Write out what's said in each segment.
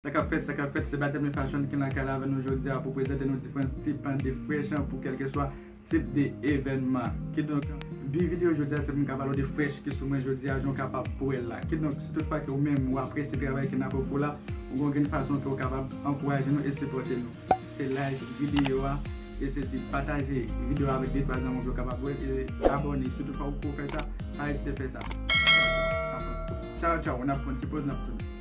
Sa kap fèt, sa kap fèt, se Bateme Fashion ki nan kay la avè nou jodi a pou prezante nou diferans tip an de fresh an pou kelke swa tip de evènman. Kidonk, bi video jodi a se pou m ka pale w de fresh ki sou mwen jodi a jan w kapab pou wè l la. Kidonk, si tout fwa ke ou menm ou apresye travay ke nap ofri w la, ou gon grenn fason ke ou kapab ankouraje nou e sipòte nou, se like video a, e se di pataje video a avèk de twa zanmi w pou yo kapab wè l, e abòne si tout fwa ou poko fè sa, pa ezite fè sa. Tchaw tchaw, tchaw tchaw, nap pran ti poz nap tounen.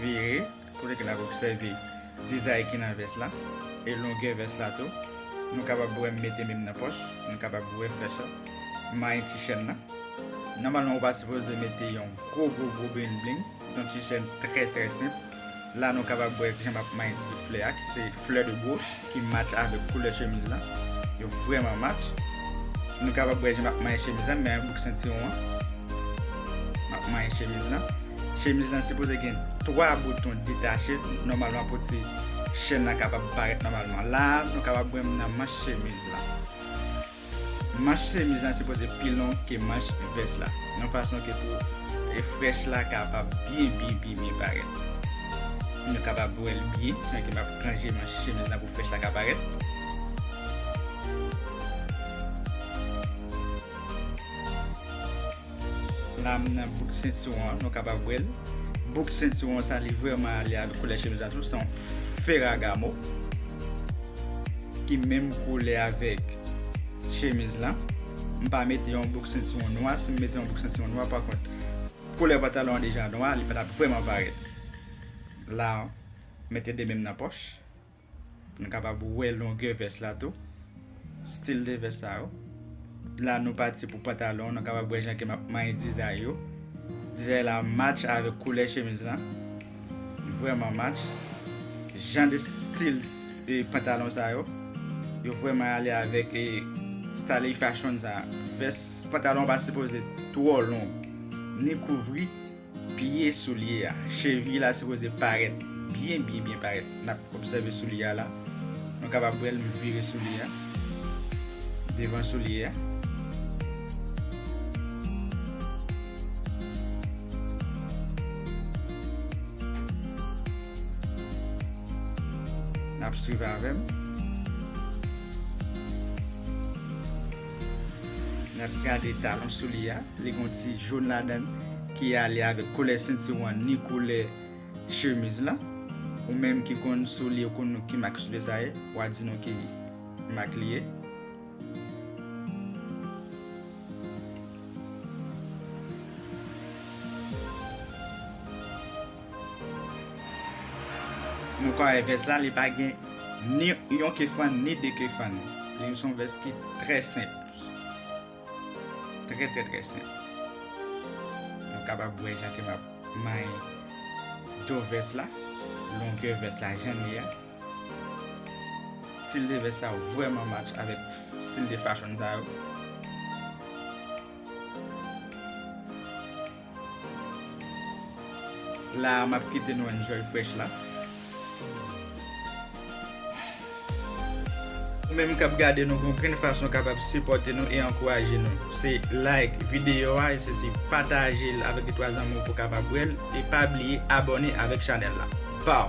Vire kote ke nap obsève dizay ki nan vès la e longè vès la tou. Nou kapab wè m mete men m nan pòch, nou kapab wè flèch la. M manyen ti chèn nan. Nòmalman ou pa sipoze mete yon gwo gwo gwo bling bling. Se yon ti chèn trè trè senp. La nou kapab wè jan map manyen ti flè a ki se flè de goch ki match avèk koulè chemiz lan. Yo vrèman match. Nou kapab wè jan map manyen chemiz lan, m manyen bouk sentiwon an. Map manyen chemiz lan. Chemiz lan sipoze gen 3 bouton detache nòmalman pou ti chèn lan kapab parèt nòmalman. La nou kapab wè m nan manch chemiz lan. Manch chemiz lan sipoze pi long ke manch vès la yon fason ke pou frèch la kapab byen byen byen byen parèt. Nou kapab bwèl byen san ke map ranje manch chemiz lan pou frèch la ka parèt. Lam nan bout sentiwon an nou kapab wèl bout sentiwon an sa li vrèman ale ak koulè chemiz la tou se yon ferragamo ki menm koulè avèk chemiz lan m pa mete yon bout sentiwon nwa si m mete yon bout sentiwon nwa pa kont koulè pantalon an deja nwa li pa tap vrèman parèt la mete 2 menm nan pòch. Nou kapab wè longè vès la tou. Stil de vès sa yo. La nou pati pou pantalon. Nou kapab wè jan ke map manyen dizay yo. Dizay la match avèk koulè chemiz la. Li vreman match. Jan de stil de pantalon sa yo. Yo vreman ale avèk e style fashion sa. Vès pantalon pa sipoze twò long. Ni kouvri. Pye soulye a, cheviy la sipoze parèt byen byen byen parèt. N ap obsève soulye a la. Nou kapab wè l, m vire soulye a. Devan soulye a. N ap swiv avè m. Nap gade talon souli a, li gon ti jaune ladann ki ale avèk koulè sentiwon an ni koulè chemiz lan. Ou menm ki konn souli ou konn ki mak souli sa ye, wa di nou ki mak li ye. Nou ka wè vès la li pa gen ni yon ke fann ni de ke fann. Li son vès ki trè senp. Trè trè trè senp. Nou kapab wè jan ke map manyen do vès la. Longè vès la jan li a. Stil de vès sa yo vrèman match avèk stil de fachon sa yo. La a map kite nou enjoy prèch la. Ou menm kap gade nou gon grenn fason kapab sipòte nou e ankouraje nou. Se like videyo a e se si pataje l avèk 2 3 zanmi w pou kapab wè l e pa bliye abòne avèk chanèl la. Pow!